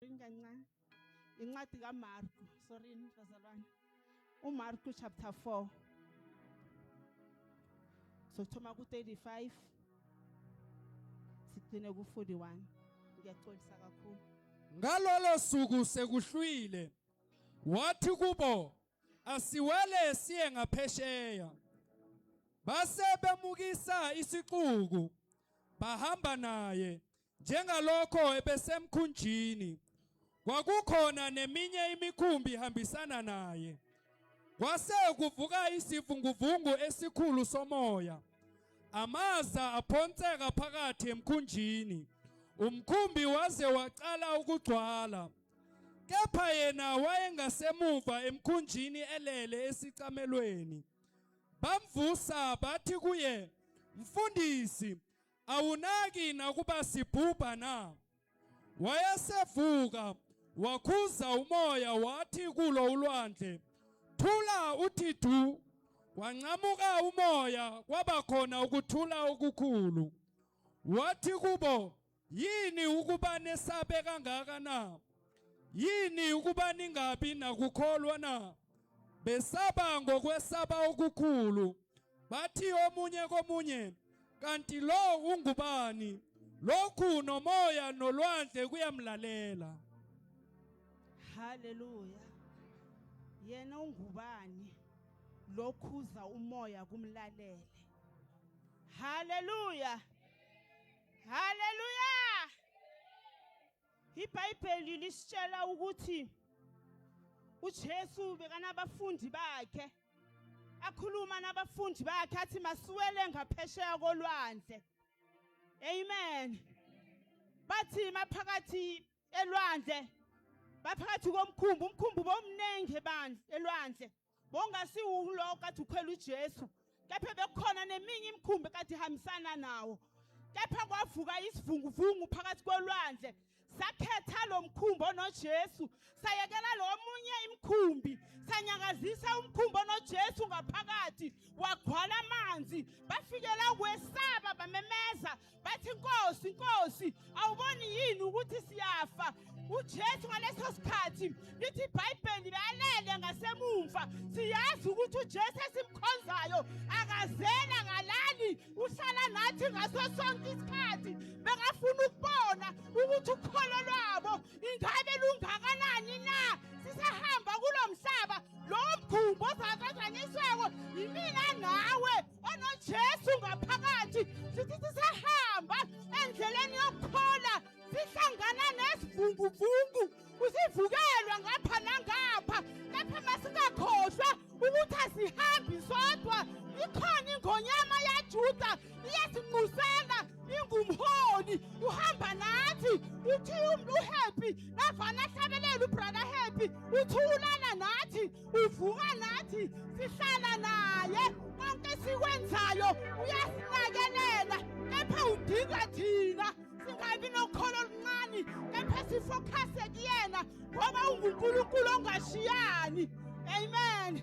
Inganca incwadi kaMarku sorry bazalwane uMarku chapter 4 sokuthoma ku-35 sigcine ku-41 ngiyaxolisa kakhulu ngalolo suku sekuhlwile wathi kubo asiwele siye ngaphesheya base bemukisa isixuku bahamba naye Njengalokho ebesemkhunjini kwakukhona neminye imikhumbi ihambisana naye. Kwase kuvuka isivunguvungu esikhulu somoya. Amaza aphonseka phakathi emkhunjini. Umkhumbi waze waqala ukugcwala. Kepha yena wayengasemuva emkhunjini elele esicamelweni. Bamvusa bathi kuye, "Mfundisi, Awunaki nakuba sibhubha na? Wayesevuka wakhuza umoya wathi kulo ulwandle, Thula uthi du. Wancamuka umoya kwaba khona ukuthula okukhulu. Wathi kubo, Yini ukuba nesabe kangaka na? Yini ukuba ningabi nakukholwa na? Besaba ngokwesaba okukhulu. Bathi omunye komunye, kanti lo ungubani? Lokhu nomoya nolwandle kuyamlalela. Haleluya. Yena ungubani? Lokhuza umoya kumlalele. Haleluya. Haleluya. IBhayibheli lisitshela ukuthi uJesu bekanabafundi bakhe akhuluma nabafundi bakhe athi masiwele ngaphesheya kolwandle amen bathi maphakathi elwandle baphakathi komkhumbi umkhumbi bomningi bandla elwandle bongasiwulo kade ukhwela uJesu kepha bekukhona neminye imikhumbi kade ihambisana nawo kepha kwavuka isivunguvungu phakathi kolwandle sakhetha lo mkhumbi onojesu sayekela lo munye imikhumbi sanyakazisa umkhumbi onojesu ngaphakathi wagcwala amanzi bafikela ukwesaba bamemeza bathi nkosi nkosi awuboni yini ukuthi siyafa uJesu ngaleso sikhathi lithi iBhayibheli lalele ngasemumva siyazi ukuthi uJesu esimkhonzayo akazela ngalali uhlala nathi ngaso sonke isikhathi bengafuna ukubona ukuthi ukholo lwabo ingabe lungakanani na sisahamba kulomhlaba lo mkhumbo ozakanjani isweko yimina nawe onojesu ngaphakathi sithi sisahamba endleleni yokuthola sihlangana nesivunguvungu usivukelwa ngapha nangapha lapha masingakhohlwa ukuthi asihambi sodwa ikhona ingonyama yajuda iyasinqusela ingumholi uhamba nathi uthi uhappy navana ahlabelela ubrother happy uthi ulala nathi uvuka nathi sihlala naye konke sikwenzayo uyasinakelela kepha udinga thina singabi nokholo oluncane kepha sifokhase kuyena ngoba ungunkulunkulu ongashiyani amen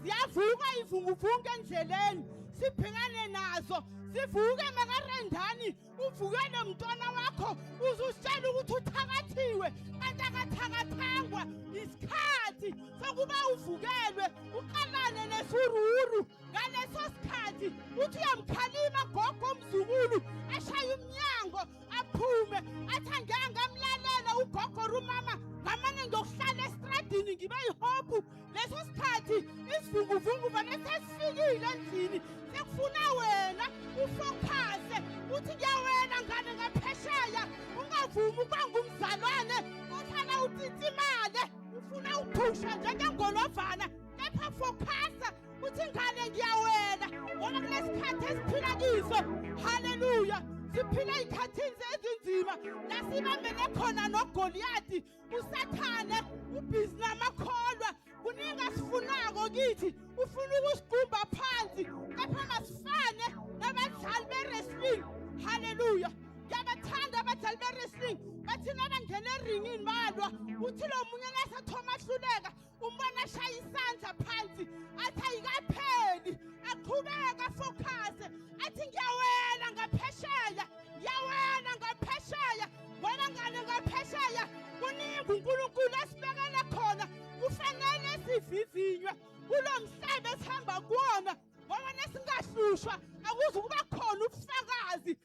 ziyavuka ivunguvunga endleleni sibhekane nazo sivuke makarendani uvukele mntwana wakho uzusitshela ukuthi uthakathiwe kanti akathakathangwa isikhathi sokuba uvukelwe uqalane nesururu ngaleso sikhathi uthi uyamkhalima gogo omzukulu ashaye umnyango aphume athi angeke ngamlalela ugogo rumama ngamane ngiyokuhlala esitradini ngibe yihobhu leso sikhathi isivunguvungu vane sesifikile endlini sekufuna wena ufokhase uthi kuyawena ngane ngaphesheya ungavumi ukuba ngumzalwane ohlala utitsa imali ufuna uphusha njengengolovana kepha fokhasa uthi ngane ngiyawena ngoba kulesikhathi esiphila kiso haleluya siphila ey'khathini ezinzima la sibambele khona nogoliyadi usathane ubhizi namakholwa kuningi asifunako kithi ufuna ukusigumba phansi kepha masifane nabadlali be-wrestling halleluya ngiyabathanda abadlali be-wrestling bathina abangena eringini balwa uthi lo munye nasathoma ahluleka umbona ashaya isandla phansi athi ayikapheli aqhubeka fokhase athi ngiyawela ngaphesheya ngiyawela ngaphesheya wena ngane ngaphesheya kuningi unkulunkulu esibekele khona kufanele sivivinywe kulo mhlaba esihamba kuwona ngoba nesingahlushwa akuze ukuba khona ubufakazi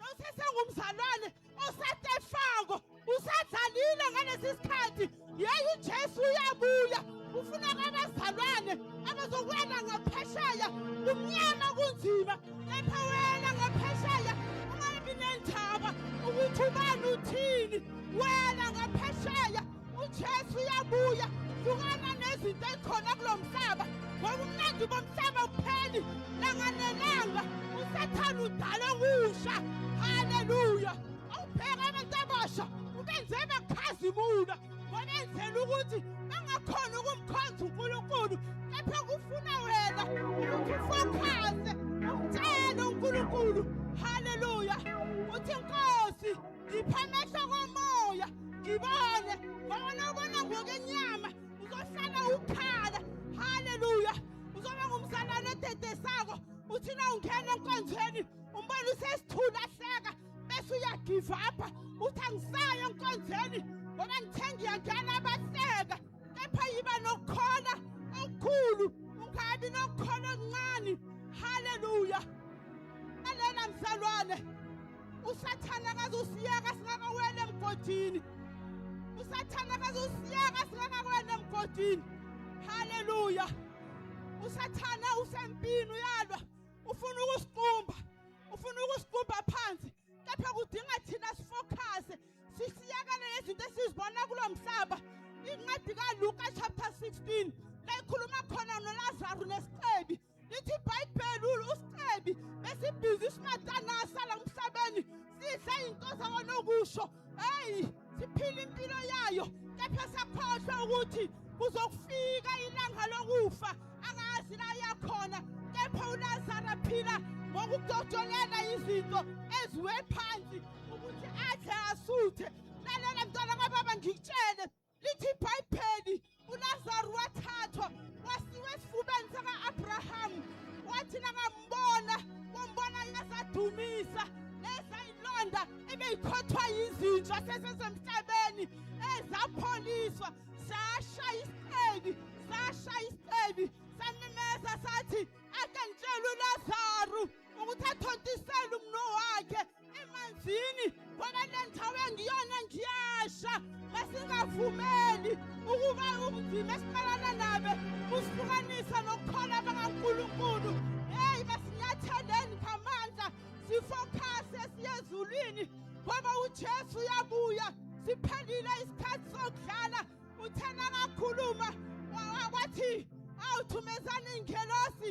Nosesengumzalwane osatefako usadlalile ngalesi sikhathi yeyi uJesu uyabuya ufuna abazalwane abazokwela ngaphesheya kumnyama kunzima kepha wena ngaphesheya ungabi nendaba ukuthi ubani uthini wena ngaphesheya uJesu uyabuya hlukana nezinto ezikhona kulo mhlaba ngoba umnandi bomhlaba upheli langa nelanga usathane udala okusha haleluya awubheka abantu abasha ubenze bakhazimula wabenzela ukuthi bangakhona ukumkhonza unkulunkulu kepha kufuna wena ukuthi ufokhaze umtshele unkulunkulu haleluya uthi nkosi ngipha amehlo komoya ngibone babona ubona ngokwenyama uzohlala ukhala haleluya uzoba ngumzalwane odedesako uthi na ungena enkonzweni umbona usesithula hleka bese uyagive up uthi angisayo enkonzweni ngoba ngithe ngiyangena abahleka kepha yiba nokukhona okukhulu ungabi nokukhona okuncane haleluya alena mzalwane usathane akaze usiyeka singakawela emgodini usathane akaze usiyeka singakawela emgodini haleluya usathane usempini uyalwa ufuna ukusiqumba ufuna ukusiqumba phansi kepha kudinga thina sifokhase sisiyekele lezinto esizibona kulo mhlaba incwadi kaluka chapter 16 layikhuluma khona nolazaru nesicebi lithi ibhayibheli usicebi besibhizi isimatana asala emhlabeni sidla into zakona okusho heyi siphila impilo yayo kepha sakhohlwa ukuthi kuzokufika ilanga lokufa angazi la yakhona kepha ulazara phila ngokudodolela izinto eziwe phansi ukuthi adle asuthe lalela mntwana kababa ngikutshele lithi ibhayibheli ulazaru wathathwa wasiwa esifubeni saka-abrahamu wathi nakambona wambona yazadumisa nezayilonda ebeyikhothwa yizinja sesesemhlabeni ezapholiswa sashaya isicebi sashaya isicebi samemeza sathi ake ngitshele ulazaru ukuthi athontisele umno wakhe emanzini ngoba le ndawo engiyona ngiyasha masingavumeli ukuba ubunzima esiqalana nabe kusihlukanisa nokukhola bakankulunkulu heyi masinyatheleni ngamandla sifokhase siye ezulwini ngoba ujesu uyabuya siphelile isikhathi sokudlala uthena kakhuluma wathi awuthumezani ingelosi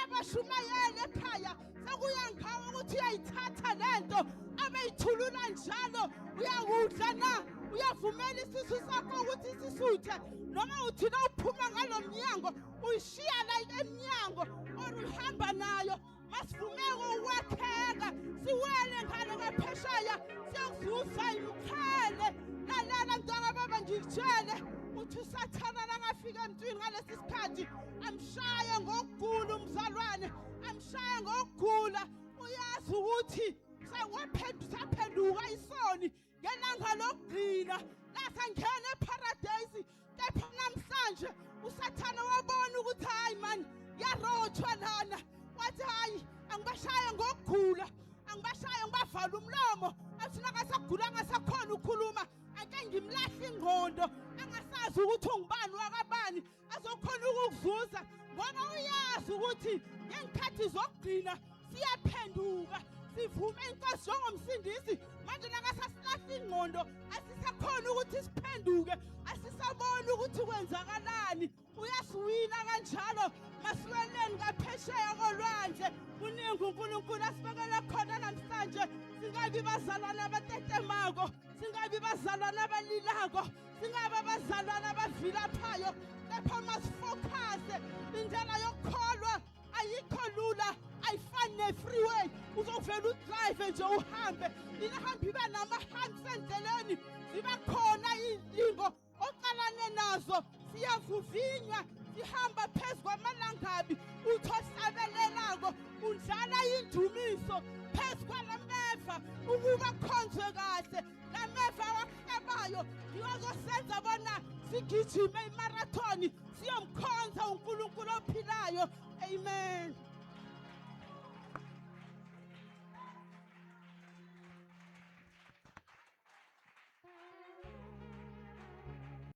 abashumayeli ekhaya sekuya ngawo ukuthi uyayithatha lento abeyithulula njalo uyakudla na uyavumela isisu sakho ukuthi sisuthe noma uthina uphuma ngalo mnyango uyishiya la emnyango or uhamba nayo masivumeke ukwakheka siwele ngale ngaphesheya siyokuzuza imkhele lalala mntwana baba ngikutshele uthi usathana langafika emntwini ngalesi sikhathi amshaye ngokugula umzalwane amshaye ngokugula uyazi ukuthi sewaphenduka isoni ngelanga lokugcina lasangena eparadayisi kepha namhlanje usathane wabona ukuthi hhayi mani yarothwa lana wathi hhayi angibashaye ngokugula angibashaye ngibavala umlomo athi nakasagula angasakhona ukukhuluma ake ngimlahle ingqondo angasazi ukuthi ungubani wakabani azokhona ukukuzuza ngoba uyazi ukuthi ngeenkhathi zokugcina siyaphenduka sivume inkosi njengomsindisi manje nakasasilahla ingqondo asisakhona ukuthi siphenduke asisaboni ukuthi kwenzakalani uyasiwina kanjalo masiweleni ngaphesheya kolwandle kuningi unkulunkulu asibekele khona namhlanje singabi bazalwana abatetemako singabi bazalwana abalilako Singaba abazalwane abavilaphayo kepha masifokhase indlela yokukholwa ayikho lula ayifani ne-freeway uzovela udrive nje uhambe inahamba ibe nama-hands endleleni ziba khona iy'lingo oqalane nazo siyavuvinywa sihamba phezu kwamalangabi uthi ohlabelelako undlala indumiso phezu kwalameva ukuba khonzwe kahle Ngameva wakuhlabayo ngiwakosenza bona sigijime imarathoni siyomkhonza uNkulunkulu ophilayo. Amen.